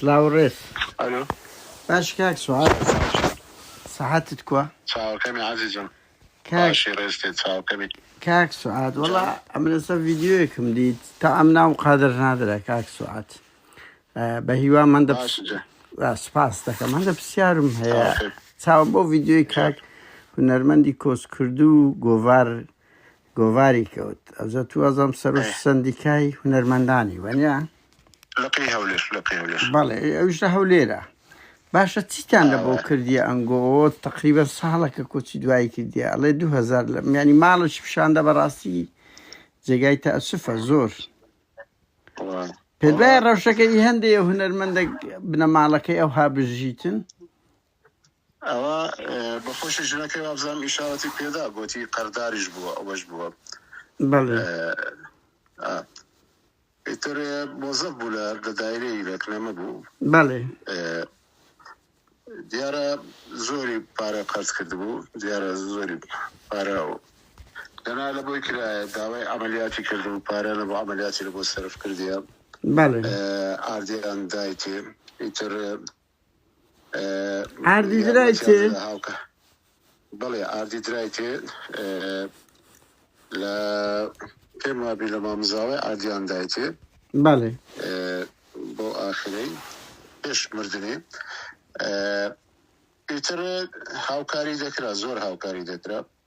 سلاو و ڕێز. ئەلۆ. باش کاک سوهاد سەحەتت کوا؟ چاوەکەمی عەزیزم باشی ڕێزتێ چاوەکەمی. کاک سوعاد وەڵا ئەمرەسە ڤیددیوەکم دیت تا ئەم ناو قادر نادرا کاک سوعات بە هیوا من دە سپاس دەکەم هەندە پرسیارم هەیە چاوم بۆ ڤیددیوی کاک هونەرمەندی کۆسکردو گۆڤار گۆڤاری کەوت ئەوجە تو ئەزەم سەرۆک ئەی. سەندیکای هونەرمەندانی وەنیا لقی هەولێر لقی هەولێر بەڵێ ئەوش لە هەولێرە باشە چیتان لە بۆ ئاوە. کردیە ئەنگۆ تقریبا ساڵەکە کۆچی دوایی کردیە ئەڵێ 2000 لە میانی ماڵش پیشاندە بەڕاستی جێگای تەسفە زۆر وە. پێدای ڕەوشەکە ئی هەندێ هونەرمەندە بنەماڵەکەی ئەو هابژیتن ئەوە بە خۆشی ژنەکەی وابزانم ئیشارەتی پێدا گۆتی قەرداریش بووە ئەوەش بووە ئیتر مۆزەف بوو لە لە دایرەی لەکنەمە بوو دیارە زۆری پارە قەرز کرد بوو دیارە زۆری پارە و دەنا لە بۆی کرایە داوای ئەعملیاتی کرد و پارە لە بۆ ئەعملیاتی لە بۆ سرف کردیە ئاردیان دایتێ ئیتر ئاردی درای تێ هاوکە بەڵێ ئاردی درای تێ لە پێم وابی لە مامزاوای ئاردیان دایتێ بەڵێ بۆ ئاخرەی پێش مردنێ ئیتر هاوکاری دەکرا زۆر هاوکاری دەکرا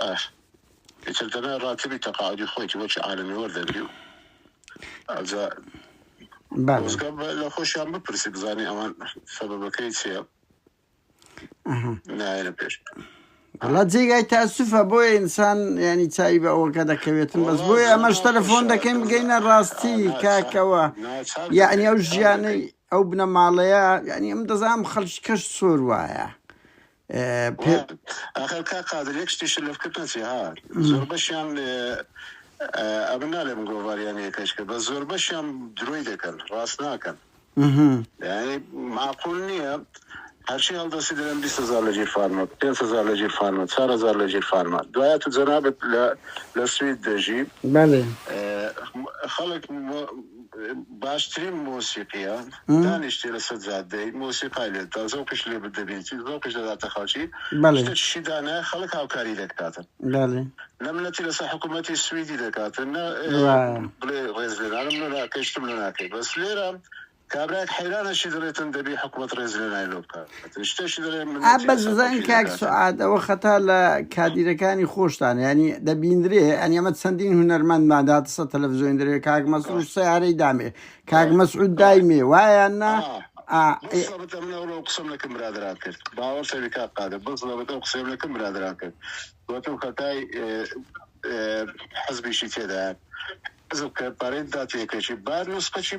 ئاه ئیتر دەبێ ڕاتبی تەقاعودی خۆیتی بۆ چی عالەمی وەردەگری و ئەجا بەڵێ خۆزگە بە- لە خۆشیان بپرسی بزانی ئەوان سەبەبەکەی چییە ئەها نایەنە پێش وڵا جێگای تاسفە بۆیە ئینسان ینی چاوی بە ئەوەکە دەکەوێتن بەس وەڵا بۆیە ئەمەش زۆر تەلەفۆن خۆشە دەکەین بگەینە ڕاستی ئا، ناچار کاکەوە ناچار یعنی دەکەین ئەو چاک ژیانەی دەکەین ئەو بنەماڵەیە ینی ئەم دەزانم خەڵکی کەش سۆر وایە پێ ئاخر کاک قادر یەک شتیشت لە فکرت نەچێ ها زۆربەشیان ئەمن نالێ من گۆڤاریان یەکەش کرد بە زۆربەشیان درۆی دەکەن ڕاست ناکەن یعنی معقول نییە هەرچی هەڵدەسی دەرێن 20 هزار لە ژیر فارمە 5 هزار لە ژیر فارمە 4 هزار لە ژیر فارمە دوایە تو جەنابت لە لە سوید دەژی بەڵێ خەڵک باشترین مۆسیقیە دانیشتی لەسەر جادەی مۆسیقای لێ دا زەوقیش لێ دەبینی زەوقیش دەداتە خەڵکی شتێ چشی دانایە خەڵک هاوکاری دەکاتن نە منەتی لەسەر حکوومەتی سویدی دەکاتن نە بڵێ ڕێز لێنانم لە ناکەی شتم لە ناکەی بەس لێرە کابراێک حەیرانەشی دەڵێتن دەبی حکوومەت ڕێز لێنای لۆ بکات ئا بەزەزان کاک سوعاد ئەوە خەتا لە کادیرەکانی خۆشتان ینی دەبیندرێ ئەن ئەمە چەندین هونەرمەند ماداتسە تەلەڤزیۆن درێ کاک مەسرور سیارەی دامێ کاک مەسعود دایمێ وایە نا قسم لەکەم برادران کرد باوە سەرکا قادە بەس لەبەتە قسم لەکەم برادران کرد وەتم خەتای حزبیشی تێدا حزب کە پارێت داتێکەشی بار نسخەشی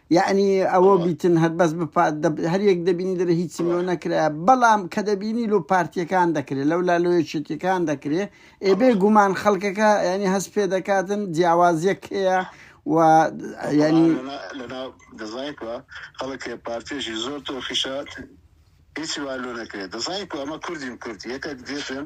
یەعنی ئەوە بڵێ بیتن هەر بەس بە پا دە هەر یەک دەبینی دەرێ هیچم بڵێ لۆ نەکرایە بەڵام کە دەبینی لۆ پارتییەکان دەکرێ لەولا لۆ یەکێتییەکان دەکرێ ئێ بێ گومان خەڵکەکە یەعنی هەست پێ دەکاتن جیاوازییەک هەیە و ئەو یەعنی بەڵام لەنا لەنا دەزانی کووا خەڵک هەیە پارتییەکی زۆر تۆخیشە هیچی وا لۆ نەکرێ دەزانی کوو ئەمە کوردین کورد یەکەک دێتن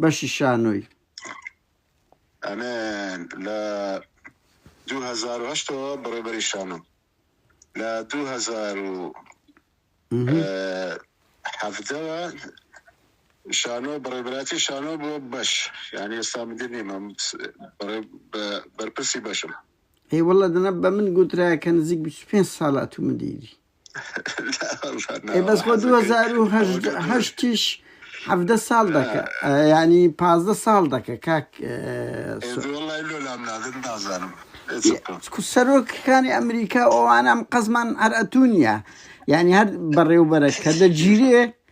بەشی شانۆی. ئەمن لە دوو هەزار و هەشت ەوە بەڕێوبەری شانۆم لە دوو هەزار و حەڤدەوە شانۆ بەڕێبراتی شانۆ بۆ بەش یعنی ئێستا مدیر نیمە بەرپرسی بەشم هی وڵە دەنە بە من گوترا کە نزیک 25 ساڵات و مدیری ئەی بەس خۆ دوو هەزار و هەژدە- حەزەکەی چۆن؟ هەشتیش حەڤدە ساڵ دەکە ئە، یانی پازدە ساڵ دەکە کاک ئە، سۆ- ئێ وەڵای لۆ لام نادن نازانم ئێ چ بکەم کو سەرۆکەکانی ئەمریکا و ئەوانە ئەم قەزمان هەر ئەتوو نیە یانی هەر بەڕێوبەرە کە دەگیرێ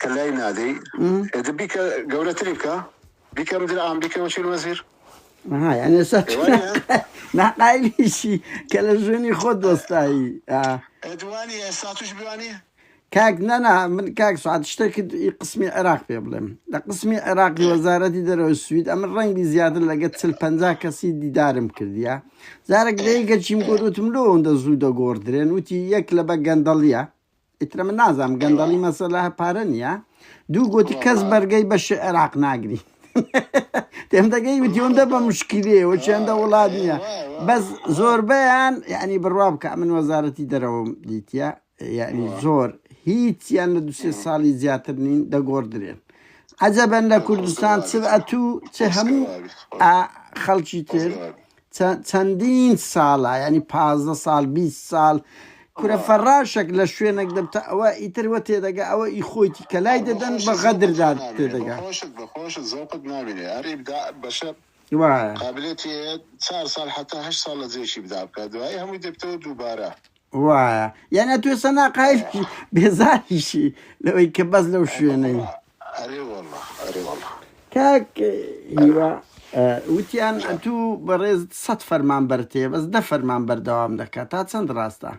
کە لای نادەی ئێ دە بیکە گەورەتری بکە بیکە مدیر عام بیکە وەکیل وەزیر ها یان ئێستا تۆ وایە؟ ناقا- ناقایلیشی کە لە ژوێنی خۆ دۆستایی ئا. ئەدوانی ئێستا توش بوانی کاک نەنا من کاک سعات شتێکت ئی قسمی عێراق پێ بڵێم لە قسمی عێراقی ئێ. وەزارەتی دەرەوەی سوید ئەمن ڕەنگی زیاتر لەگە چل پەنجا کەسی دیدارم کردیە جارێک لە ئێ. یەکەکیم گوت وتم لۆ ئەوەندە زوو دەگۆڕدرێن وتی یەک لەبە گەندەڵیە ئیتر من نازام گەندەڵی مەسەلا پارە نییە دوو گوتی کەس بەرگەی بە شعراق ناگری تێم دەگەی وتیۆندە بە مشکلەوە چێندە وڵات نییە بەس زۆربیان یعنی بڕوا بکە من وەزارەتی دەرەوەم دیتە یعنی زۆر هیچیان لە دوسێ ساڵی زیاتر نین دەگۆڕدرێن عجبەن لە کوردستان چ ئەتوو چ هەموو خەڵکی تر چەندین ساڵە یانی پازدە ساڵ بیست ساڵ کورە فەراشەک لە شوێنەک دەبتە ئەوە ئیتر وە تێدەگا ئەوە ئی خۆیتی کە لای دەدەن بە غەدردا تێدەگا. بەخۆشت بەخۆشت زەوقت نابینێ هەر ئیبداع بەشەر وایە. قابلیەتی هەیە چار ساڵ حەتا هەشت ساڵ لە جێیەکی ئیبداع بکات دوایی هەمووی دەبیتەوە دووبارە. وایە یان ئەتوێ سەنا قایل بی بێزاریشی لەوەی کە بەس لەو شوێنەی ئەرێ وەڵا ئەرێ وەڵا کاک هیوا وتیان ئەتوو بەڕێز سەد فەرمان بەرتێ بەس دە فەرمان بەردەوام دەکات تا چەند ڕاستە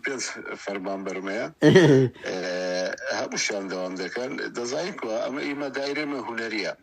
پێ فەرمان بەرمەیە هەمووشیان دەوام دەکەن دەزانین ئەمە ئیمە دایرێمە هوەریە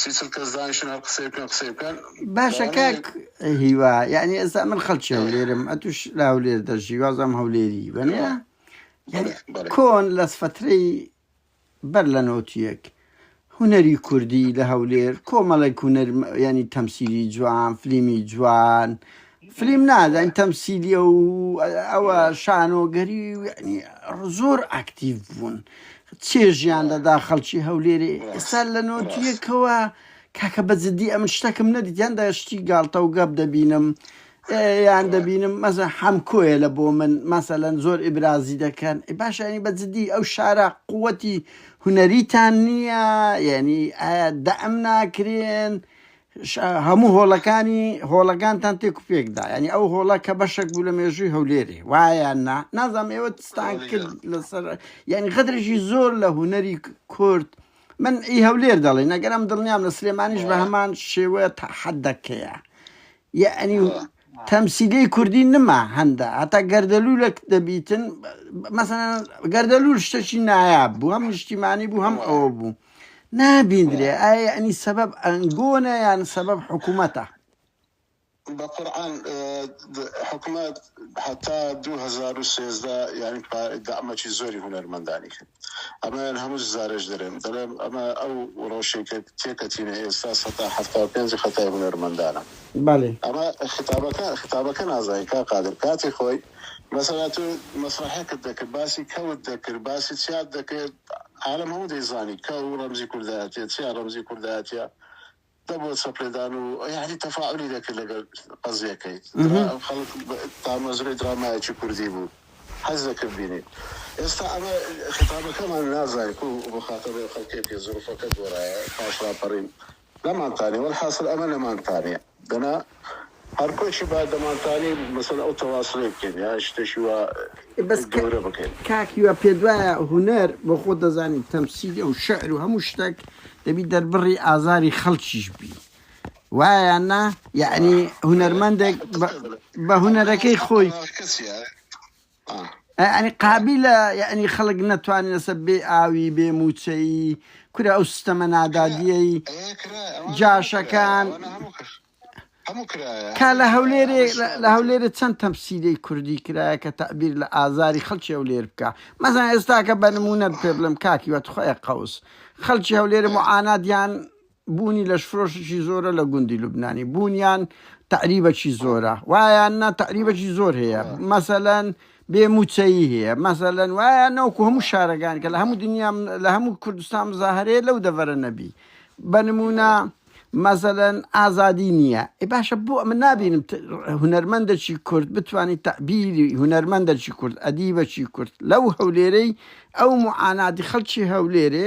سی چل کەس دانیشن هەر قسەی بکەن قسەی بکەن باشە کاک هیوا یعنی ئێستا من خەڵکی هەولێرم ئەتوش لە هەولێر دەژی وازم هەولێری بەێ کۆن لەس فترەی بەر لە نۆتیەک هوەری کوردی لە هەولێر کۆمەڵێک هوەر ینی تەمسیری جوان فلیمی جوان فلیم نا زانی تەمسیلیە و ئەوە شانۆگەری یعنی زۆر ئاکتیڤ بوون چێژیان دەدا خەڵکی هەولێرێ ئێستا لە نۆتیەکەوە کاکە بە جددی ئەمن شتەکەم نەدیتیان داشتی گاڵتە و گەپ دەبینم یان دەبینم مەزە حەمکۆیە لە بۆ من مەسەلەن زۆر ئیبرازی دەکەن باشانی بە جددی ئەو شارە قوەتی هوەریتان نییە یعنی ئایا دەم ناکرێن هەموو هۆڵەکانی هۆڵەکانتان تێک و پێک دا یعنی ئەو هۆڵە کە بەشێک بوو لە مێژووی هەولێرێ وایە نا نازانم ئێوە تستان کرد لەسەر یعنی غەدرێکی زۆر لە هوەری کورد من ئی هەولێر دەڵێ نەگەرم دڵنیام لە سلێمانیش بە هەمان شێوە حەدەکەیە یعنی تەمسیلی کوردی نما هەندە هەتا گەردەلوولەک دەبیتن مەسەن گەردەلوول شتەکی نایاب بوو هەم نیشتیمانی بوو هەم ئەوە بوو نابیندرێ ئایا ئەنی سەبەب ئەنگۆنە یان سەبەب حکوومەتە بە قورآن حکومەت هەتا 2013 یعنی دامەکی زۆری هونەرمەندانی کرد ئەمەیان هەمووش زارەش دەرێن دەلێم ئەمە ئەو رەوشەی کە تێکەتینە ئێستا سەتا حەفتا و پێنج خەتای هونەرمەندانە بەلی. ئەمە خیتابەکە خیتابەکە نازانی کاک قادر کاتی خۆی مەسەلا تۆ مەسرەحێکت دەکرد باسی کەوت دەکرد باسی چیات دەکرد عالەم هەموو دەیزانی کەو رەمزی کوردایەتیە چیا رەمزی کوردایەتیە دەبووە چەپلێدان و یەعنی تەفاعولی دەکرد لەگەل قەزیەکەی درا خەڵک تامەزرۆی درامایەکی کوردی بوو حەز دەکرد بینی ئێستا ئەمە خیتابەکەمان نازانین کو مخاتەبەی ئەو خەڵکەی بکەین زروفەکە گۆرایە پاش راپەرین نەمانتانیە وەلحاسل ئەمە نەمانتانیە دەنا هەر کۆچی با دەمانتانی مەسەن ئەو تەواسلەی بکەین یا شتەشی وا بەس کە گەورە بکەین. کاک هیوا پێتوایە هونەر بۆ خۆت دەزانی و تەمسیلی و شعر و هەموو شتەک دەبی دەربڕی ئازاری خەڵکیش بی وایە یان نا یەعنی هونەرمەندێک بە بە هونەرەکەی خۆی. یانی قابیلە یانی خەڵک نەتوانێت لەسەر بێ ئاوی بێ مووچەیی کورە ئەو سیستەمە نادادیەی جاشەکان کا لە هەولێرێ لە هەولێرە چەند تەمسیلەی کوردی کرایە کە تەعبیر لە ئازاری خەڵکی هەولێر بکە مەزان ئێستاکە بە نمونەت پێ بڵم کاکی وەت خۆی قوس خەڵکی هەولێرە معاناتیان بوونی لەشفرۆشێکی زۆرە لە گوندی لوبنانی بوونیان تەعریبەکی زۆرە وایان نا تەعریبەکی زۆر هەیە مەسەلەن بێ موچەیی هەیە مەسەلەن وایە ناوکو هەموو شارەکان کە لە هەموو دنیا لە هەموو کوردستان مزاهرەیە لەو دەڤەرە نەبی بە نمونە مەسەلەن ئازادی نییە ئێ باشە بۆ ئەمە نابینم ت- هونەرمەندەکی کورد بتانی تەبیری هونەرمەندەکی کورد ئەدیبەکی کورد لەو هەولێرەی ئەو معاناتی خەڵکی هەولێرێ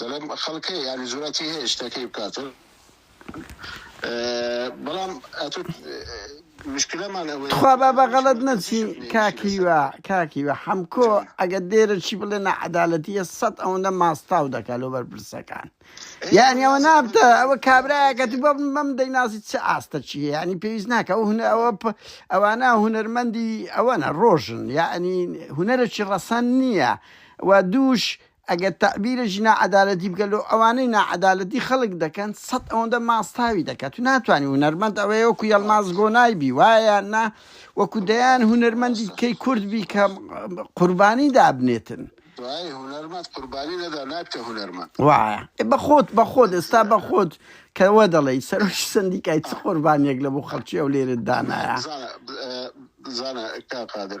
دەڵێم خەڵکەیە یانی جوراتی هەیە شتەکەی بکاتن بەڵام مشکلەمان ئەوەیە تخوا با بە غەڵەت نەچین کاکیوە کاکیوە حەمکۆ ئەگە دێرە چی بڵێ نەعەدالەتیە سەد ئەوەندە ماستاو دەکا لۆ بەرپرسەکان یعنی ئەوە نابتە ئەوە کابراەکە تو بەم بەم دەینازی چ ئاستە چیە ینی پێویست ناکە ئەو هونە ئەوە ئەوانە هونەرمەندی ئەوەنە ڕۆژن یعنی هونەرەکی ڕەسەن نییە و دووش ئەگەر تەعبیرە ژی ناعەدالەتی بکە لۆ ئەوانەی ناعەدالەتی خەلک دەکەن سەد ئەوەندە ماستاوی دەکا تو ناتوانی هونەرمەند ئەوەیە وەکو یەلماز گۆنای بی وایە یان نا وەکو دەیان هونەرمەندی کەی کورد بی کە قوربانی دابنێتن وایە هونەرمەند قوربانی نەدا نابتە هونەرمەند وایە بە خۆت بە خۆت ئێستا بە خۆت کە وە دەڵێی سەرۆکی سەندیکای چ قوربانیەک لە بۆ خەلکی ئەو لێرەت دانایە. بزانە بزانە کاک قادر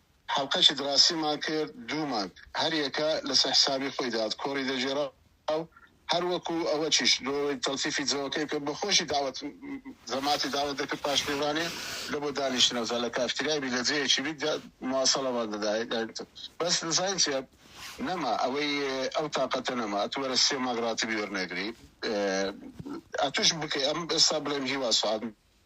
حەڵقەکی دڕاسیمان کرد دوو مانگ هەر یەکە لەسەر حسابی خۆی داد کۆری دەگێرا و هەر وەکو ئەوەکیش لۆ ئەوەی تەڵتیفی جەوەکەی بکەم بە خۆشی داوەت زەماتی داوەت دەکرد پاش میوانێ لە بۆ دانیشتنە جا لە کافتریای بی لە جێیەکی بی دا مواصەڵەمان دەدا بەس دەزانی چیە نەما ئەوەی ئەو تاقەتە نەما ئەتوو وەرە سێ مانگ ڕاتبی وەرنەگری ئەتووش بکەی ئەم ئێستا بڵێم هیوا سوعاد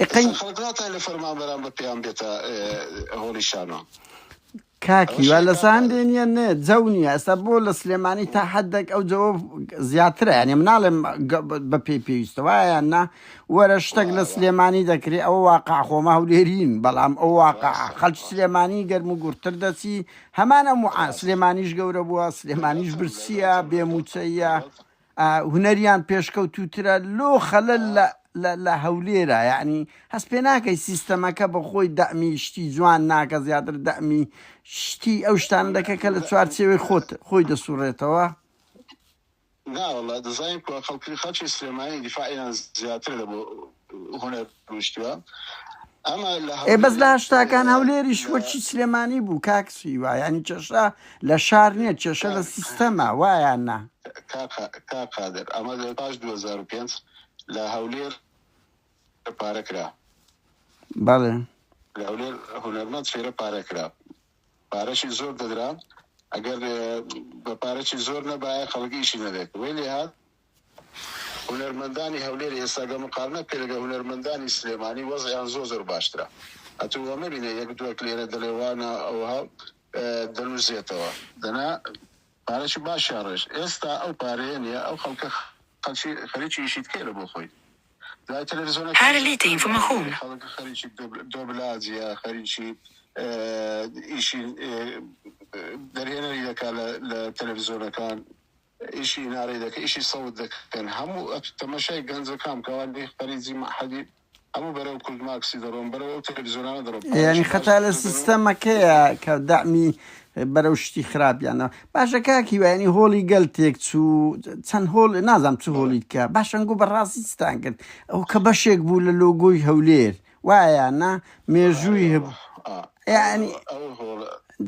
ئێستا خەڵک ناتوانێت لە فەرمانبەران بە پێیان بێتە هۆڵی شانۆ کاکی وا لە ساندێ نیە نێ جەو نیە ئەستا بۆ لە سلێمانی تا حدێک ئەو جەوە زیاترە یانێ مناڵێ بە پێی پێویستە وایە نا وەرە شتێک لە سلێمانی دەکرێت ئەو واقع خۆما هەولێرین بەڵام ئەو واقع خەلچ سلێمانی گەرم و گورتر دەچی هەمانە سلێمانیش گەورە بووە سلێمانیش برسیە بێ موچەیە هونەریان پێشکەوتووترە لۆ خەلەل لە هەولێرە یانی هەست پێ ناکەی سیستەمەکە بە خۆی دەعمی شتی جوان ناکە زیاتر دەعمی شتی ئەو شتان دەکە کە لە چوار چێوەی خۆت خۆی دەسوڕێتەوە ناوەڵا دەزای خەڵکی خەڵکی سلێمانی دیفاعیان زیاتر لە بۆ هونەر روشتوە ئەمە لە ئێ بەس لە هەولێر هەشتاکان هەولێریش لە وەکی سلێمانی بوو کاک سیوا یعنی کێشە لە شار نییە کێشە لە سیستەما وایان نا کا قا- کا قادر ئەمە لە پاش 2005 لە هەولێر پارە کرا بەڵێ لە هەولێر هونەرمەند فێرە پارە کرا پارەشی زۆر دەدرا ئەگەر اه، بە پارەشی زۆر نەبایە خەڵک ئیشی نەدەکرد وەی لێهات هونەرمەندانی هەولێر ئێستا گەر مقارنە بکەی لەگەڵ هونەرمەندانی سلێمانی وەزعیان زۆر زۆر باشترە ئەتوو وە مەبینە یەک دووەک لێرە دەلێ وانە ئەوها دەلوزێتەوە دەنا پارەکی باشیان ڕێژ ئێستا ئەو پارەیە نیە ئەو خەڵکە خەلکی خەریکی ئیشی تکەیلە بۆ خۆی دوای تەلەفزیۆنە هارە لێ تەین فمە خوم. خەڵک خەریکی دۆبلاجە خەریکی ئیشی دەرهێنەری دەکا لە تەلەفزیۆنەکان. ئیشی نارەی دەکەن ئیشی سەوت دەکەن هەموو ئەتو تەمەشای گەنجەکان بکە ئەوان لێی خەریجی مەعهەدی هەموو بەرەو کوردماکسی دەڕۆن بەرەو ئەو تەلەفزیۆنانە دەڕۆن یانی پارەشی باش خەتا لە دەدەن و سیستەمەکەیە کە دەعمی بەرەو شتی خراپیانەوە باشە کاک هیوا یانی هۆڵی گەل تێک چوو چەند هۆڵ نازانم چ بەڵێ هۆڵیت کە باشە ئەنگۆ بە ڕاستی چتان کرد ئەوە کە بەشێک بوو لە لۆگۆی هەولێر وایە یان نا مێژووی هەبوو یعنی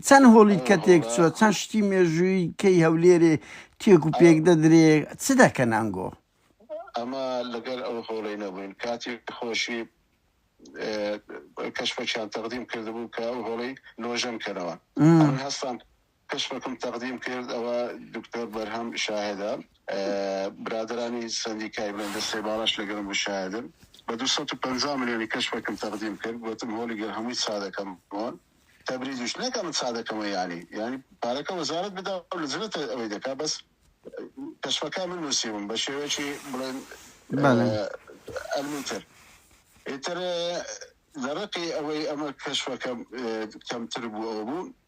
چەند هۆڵی کە تێک چوە چەند شتی مێژووی کەی هەولێرێ تێک و پێک دەدرێ چ دەکەن ئەنگۆ ئەمە لەگەر ئەو هۆڵی نەبووین کاتی خۆشی کەشفەکیان تەقدیم کردبوو کە ئەو هۆڵی نۆژەن کەرەوە هەستان کەشفەکم تەقدیم کرد ئەوە دکتۆر بەرهەم شاهدە برادەرانی سەندیکای بلەن دەستەی باڵاش لەگەرم بوو شاهدن بە دوو سەد و پەنجا ملیۆنی کەشفەکم تەقدیم کرد گوتم هۆلی گەر هەمووی چادەکەم بۆن تەبریزیش نەکە من چادەکەمە یانی یانی پارەکە وەزارت بدا لە جنت ئەوەی دەکا بەس کەشفەکە من نووسیوم بە شێوەیەکی بڵێن ئەلمیتر ئیتر لە ڕقی ئەوەی ئەمە کەشفەکەم کەمتر بوو ئەو بوو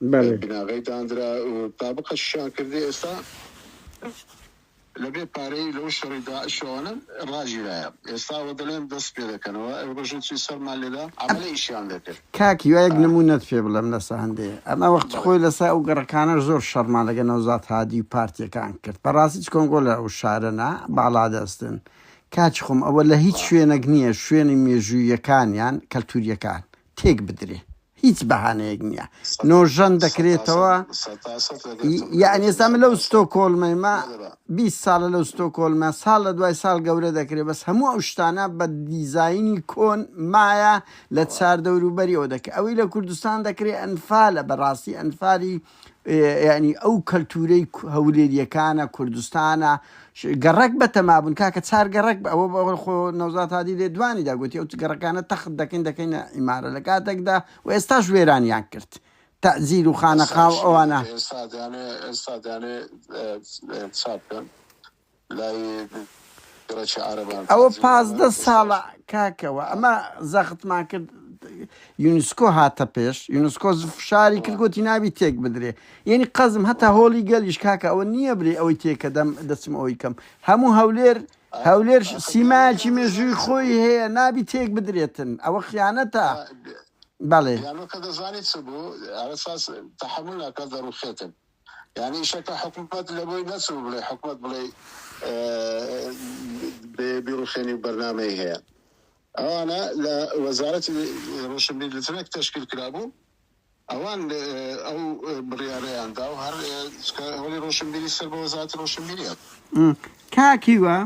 بناغەی داندرا و تابقە شیان کردی ئێستا لەبێ پارەی لەو شەڕی داعشەوانە ڕاگیرایە ئێستا وە دەلێن دەست پێ دەکەنەوە ئەو ڕژە چی سەرمان لێدا عەمەلە ئیشیان دەکرد. کاک هیوا یەک نمونەت پێ بڵێم لەسە هەندێ ئەمە وەختی خۆی لەسە ئەو گەڕەکانە زۆر شەڕمان لەگە نەوزاد هادی و پارتیەکان کرد بەڕاستی چ کۆنگۆ لە ئەو شارە نا باڵا دەستن کاکی خۆم ئەوە لە هیچ شوێنەک نیە شوێنی مێژوویەکانیان کەلتوریەکان تێک بدرێ هیچ بەهانەیەک نییە نۆژەن دەکرێتەوە یانێستا من لەو ستۆ کۆلمەمە 20 ساڵە لەو ستۆ کۆلمە ساڵ لە دوای ساڵ گەورە دەکرێت بەس هەموو ئەو شتانە بە دیزایانی کۆن مایە لە چاردەوروبەریەوە دەکە ئەوەی لە کوردستان دەکرێت ئەنفالە بەڕاستی ئەنفالی یانی ئەو کەلتورەی هەولێریەکانە کوردستانە گەڕەک بە تەما بوون کاکە چار گەڕک بە ئەوە بەوە خۆ نەوزات هادی لێ دوانی داگوتی ئەو گەڕەکانە تەخت دەکەین دەکەینە ئیمارە لە کاتێکدا و ئێستاش وێرانیان کرد تەزیر و خانەقا و ئەوانە ئێستا دەیانێ ئێستا دەیانێ چاپ بکەن ئەوە پازدە ساڵە کاکە وە ئەمە زەختمان کرد یونسکۆ هاتە پێش یونسکۆ فشاری کرد گوتی ناوی تێک بدرێ یعنی قەزم هەتا هۆڵی گەلیش کاکە ئەوە نییە برێ ئەوەی تێکە دەم دەچم ئەوی کەم هەموو هەولێر هەولێر سیمایکی مێژووی خۆی هەیە نابی تێک بدرێتن ئەوە خیانەتە بەڵێ یانی شەکە حکومەت لەبۆی نەچوو بڵێ حکومەت بڵێ بیڕوخێنی و بەرنامەی هەیە ئەوانە لە وەزارەتی ڕۆشنبیر لترێک تشکیل کرابوو ئەوان ئەو بڕیارەیان دا و هەر هەڵی ڕۆشنبیری سەر بە وەزارەتی ڕۆشنبیریان کاکیوە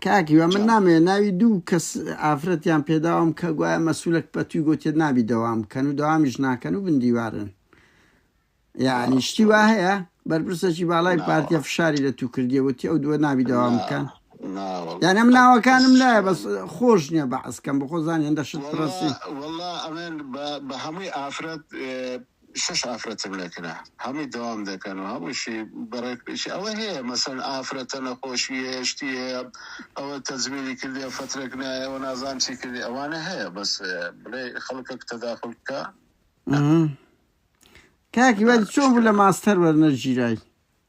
کاک هیوا من نامەوێ ناوی دوو کەس ئافرەتیان پێداوام کە گوایە مەسولەک پەتوی گوتێت نابی دەوام بکەن و داوامیش ناکەن و بندیوارن یعنی شتی وا هەیە بەرپرسەکی باڵای پارتیە فشاری لە تو کردیە وتی ئەو دووە نابی داوام بکەن یان ئەم ناوەکانم لایە بەس خۆش نییە بە عسکەم بە خۆزان هێندە شت پرسی بە هەمووی ئافرەت شەش ئافرەتم لەکرا هەمووی دەوام دەکەن و هەمووشی بەڕێک پیش ئەوە هەیە مەسەن ئافرەتە نەخۆشی هەیە شتی هەیە ئەوە تەزویری کردیە فەترەک نایەوە نازان چی کردی ئەوانە هەیە بەس بڵێ خەڵکەک تەداخل بکە کاکی وەری چۆن بوو لە ماستەر وەرنەژیرای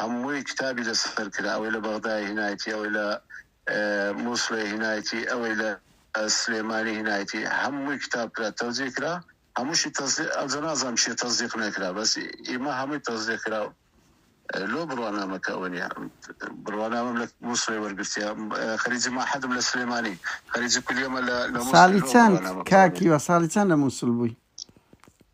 هەمووی کتابی لەسەر کرا ئەوەی لە بەغدای هینایەتی ئەوەی لە مووسڵێ هینایەتی ئەوەی لە سلێمانی هینایەتی هەمووی کتاب کرا تەوزێ کرا هەمووشی ئەجە نازانم چێ تەزیق نەکرا بەس ئیمە هەمووی تەزیێ کرا لۆ بڕوانامەکە ئەوە نیە بڕوانامەم لە مووسڵێ وەرگرتیا خەریجی ماحەدم لە سلێمانی خەریجی کولیەمە لە ساڵی چەند کاکی وە ساڵی چەند لە مووسڵ بووی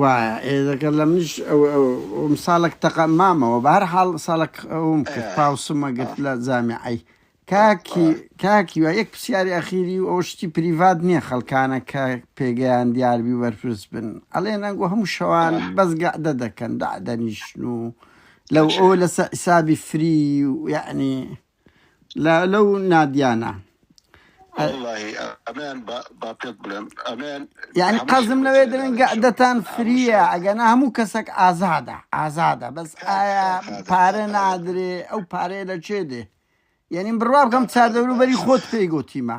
وایە ئێ دەکە لە منیش ئەم ساڵک تەقە مامەوە بە هەر حاڵ ساڵک ئەوم کرد پاوسمە گرت لە جامیعی کاکی کاکی وە یەک پرسیاری ئەخیری و ئەو شتی پریڤات نییە خەڵکانە کە پێگەیان دیاربی و بەرپرس بن ئەڵێ نەنگۆ هەموو شەوان بەس گەعدە دەکەن دادەنیشن و لەو ئەو لەسە حسابی فری و یعنی لە لەو نادیانە یعنی قەزم لەوێ درنگە دەتان فریە ئەگەنا هەموو کەسێک ئازادە ئازادە بەس ئایا پارە نادرێ ئەو پارەیە لە چێ دێ یعنی بڕوا بکەم چاردەوروبەری خۆت پێی گوتیمە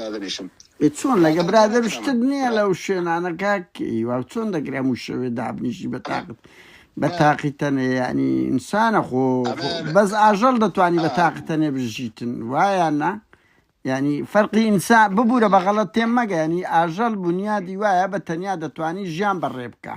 دادەنیشم. ئێ چۆن لەگە برادەر شتت نیە لەو شوێنانە کاک هیوا و چۆن دەکرێ هەموو شەوێ دابنیشی بە تاقت بە تاقی تەنێ یعنی ئینسانە خۆ خۆ- ئەمە- بەس ئاژەڵ دەتوانی بە تاقی تەنێ بژیتن وایە نا یعنی فەرقی ئینسان ببوورە بە غەڵەت تێم مەگە ینی ئاژەڵ بنیادی وایە بە تەنیا دەتوانی ژیان بەڕێ بکە